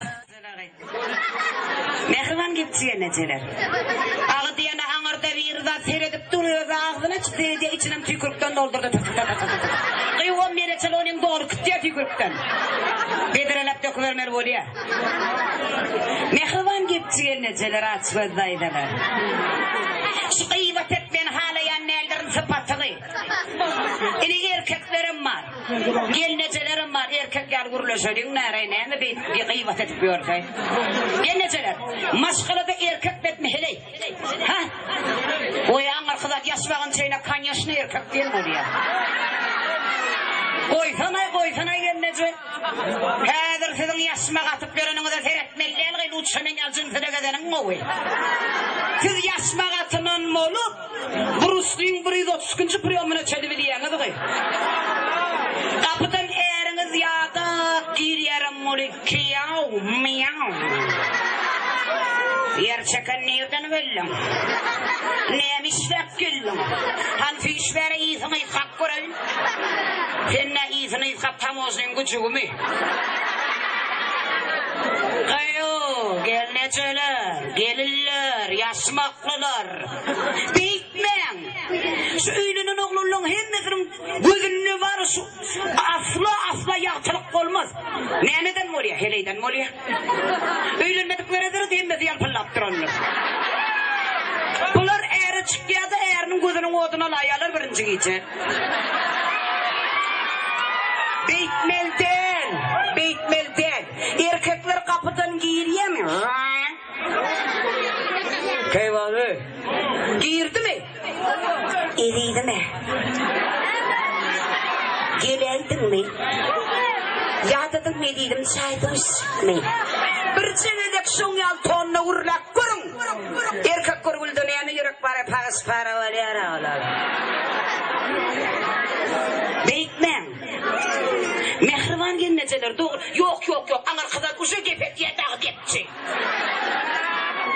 Agzalagy. Mähriban gepjik enejeler. Agy diýene aňyrda biri zat seredip dur özi agzyny açyp seredýär içinem tüýkürikden doldurdy tytytytytyty. Gyýw on bire çal onem dogry kütýär tüýkürikden. Bedreläp dökübermeli bolýar. Mähriban gepjik enejeler açgöz daýzalar. Şu gyýbat etmegini halaýan däldirin sypatygy. Ini erkeklerem bar. Gelnejelerem bar, erkek ýaly gürleşeliň näreý, näme beýdip gi gyýbat edip ýörseý. Gelnejeler, maşgalada erkek betmi heleý? Ha? Goý, aňyrky zat ýaşmagan çeýne konýeşne erkek diýen bolýar. Goýsanaý, goýsanaý gelneje. Häzir siziň ýaşmak atyp ýöreniňize seretmeli däl gyz, lutşa men ýaly jynsada gezeniň gowy. Siz ýaşmak atynan bolup, Brusliň bir ýüz otuz ikinji priýomyny çözüp bilýäňizmi? Gapydan äriňiz ýa-da girýärem muny Kýaw, mýaw. Ýer çeken nirden geldiň? Näme işläp geldiň? Hany süýş bäri yzyňy ýykap göreýin. Sen nä yzyny ýykap tamožnyň güjügimi? Gyýw, gelnejeler, gelinler, ýaşmaklylar. Beýtmäň! Şu öýlenen oglanlaň hemmesiniň gözünde bary şu. Asla, asla ýagtylyk bolmaz. Nämeden bolýar? Heleýden bolýar. Öýlenmediklere deret, hemmesi ýalpyldap durandyr. Bular äre çykýar-da, äriniň gözüniň oduny alaýýarlar birinji gije. Beýtmeli däl, beýtmeli däl. Erkekler gapydan girýärmi? Žaň! Keýwany. Girdimi? Ezidim-ä. Geläýdiňmi? Ýadadym ezidim çaý duşmy? Birje gezek şoň ýaly tonda gürläp görüň! Erkek görgülde näme ýürek bar-a, pagyş-para bolýar-a olar. Beýtmäň! Mähriban gelnejeler dogry. Ýok ýok ýok aňyr gyzan uje gep edýä dagy gepçi.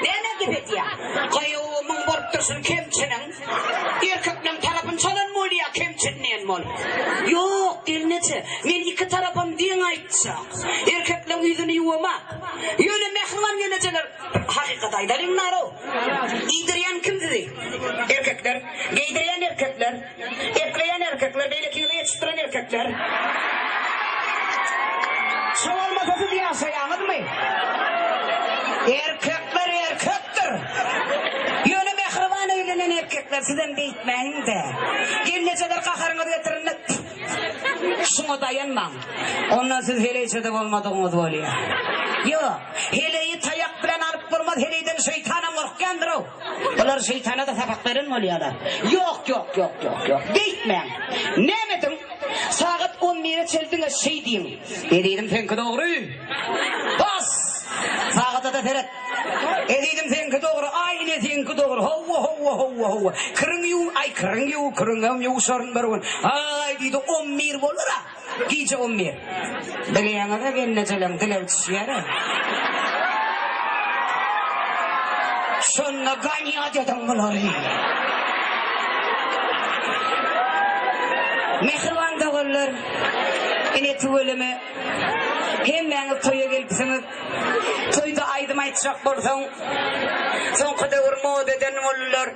Näme gep edýä? Gaýowy muň bolup dursun kemçiniň. Erkekleň tarapyn çalan bolýa kemçin diýen bol. Ýok gelneje men iki tarapam deň aýtja. Erkekleň ýüzini ýuwama. Ýöne mähriban gelnejeler hakykat aýdalyň narow. Iýdirýän kim sizi? Erkekler. Geýdirýän erkekler. Ekleýän erkekler, beýleki ýyly geçipdiren erkekler. Şo bolmasa siz ýaşaýaňyzmy? Erkekler erkekdir. Ýöne mähriban öýlenen erkekler sizem beýtmäýiňdä. Gelnejeler gaharyňyzy getirende şuňa daýanmaň. Ondan siz heleýçede bolmadygyňyz bolýar. Ýok, heleýi taýak bilen alyp bolmaz, heleýden şeýtanam gorkýandyr-ow. Bular şeýtana-da sapak beren bolýarlar. Ýok, ýok, ýok, ýok, ýok. Beýtmäň. Näme ediň? Sagat on bire çel diňe şeý diýiň. Ezizim, seňki dogry. Bas! Sagada-da seret. Ezizim, seňki dogry. Aý, ine, seňki dogry. Howwa, howwa, howwa, howwa. Kiriň ýuw, aý, kiriň ýuw, kiriňem ýuwşaryn bir gün. Aý, diýdi, on bir bolar-a. Gije on bir. Dileýäňize gelnejelem dileg düşýär-ä. Şonda ganýat ediň bulary. Mähriban doganlar, ine tüweleme hemmäňiz toýa gelipsiňiz. Toýda aýdym aýtjak bolsaň, soňky döwür moda eden boldular.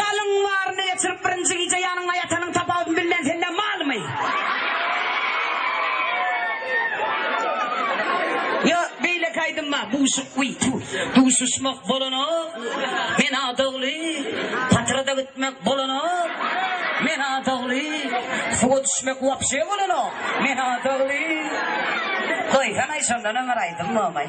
Galyň baryny geçirip birinji gije ýanyňda ýatanyň tapawudyny bilmeýän senden malmy? Ýo, beýleki aýdym bar, buşuk wiý, tu. Duşuşmak bolanok, men adagly, patrada gitmek bolanok, men adagly, suwa düşmek wapşe bolanok, men adagly. Goýsana-aý, şondan öň bir aýdym bolmaý.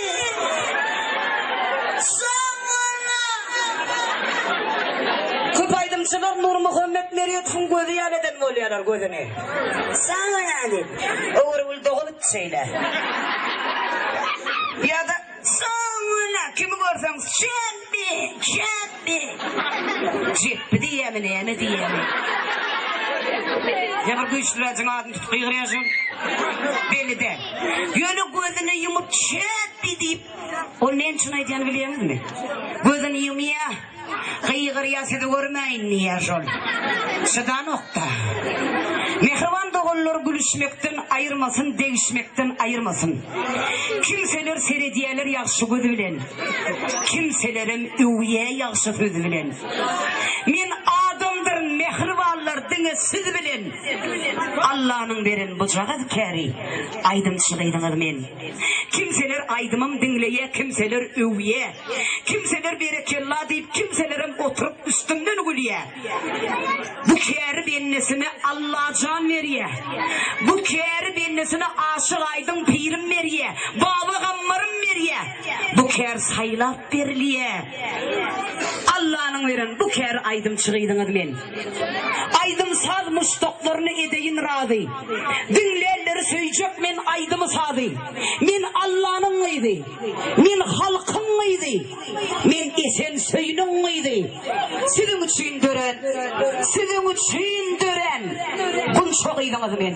Köp aýdymçylar Nurmuhammet Merýedowyň gözi ýaly eden bolýarlar gözüni. Saňa nädip? Öwrügül dogup şeýle. Ýa-da Saňa nä? Kimi görseň, Şähdi, Şähdi! Jepbi diýýämi, näme diýýämi? Ýa bir güýçlüräjigiň adyny tutup gygyrýan şol. Belli däl. Ýöne gözüni ýumup Jepbi diýip, ol näme üçin aýdýanyny bilýäňizmi? Gözüni ýumýa, gygyrýa sizi görmäýin diýýä şol. Çydanok-da. Mähriban doganlar gülüşmekden aýyrmasyn, degişmekden aýyrmasyn. Kimseler seredýäler ýagşy göz bilen. Kimselerem öwýä ýagşy söz bilen. Men adamdyryn mähribanlar diňe siz bilen. Allanyň beren bujagaz käri aýdymçy gyzyňyz men. Kimseler aýdymym diňleýä kimseler öwýä. Kimseler berekella diýip kimselerem oturyp üstümden gülýä. Bu käri bendesine Allajan berýä. Bu käri bendesine Aşyk Aýdyň pirim berýä. Baba Gammarym berýä. Bu kär saýlap berilýä. Allanyň beren bu käri aýdymçy gyzyňyz men. Aýdym-saz muşdaklaryny edeýin razy. Diňlänleri söýjek men aýdymy-sazy. Men Allanyň gyzy. Men halkyň gyzy. Men Esen Söýüniň gyzy. Siziň üçin dören, siziň üçin dören Gunça gyzyňyz men.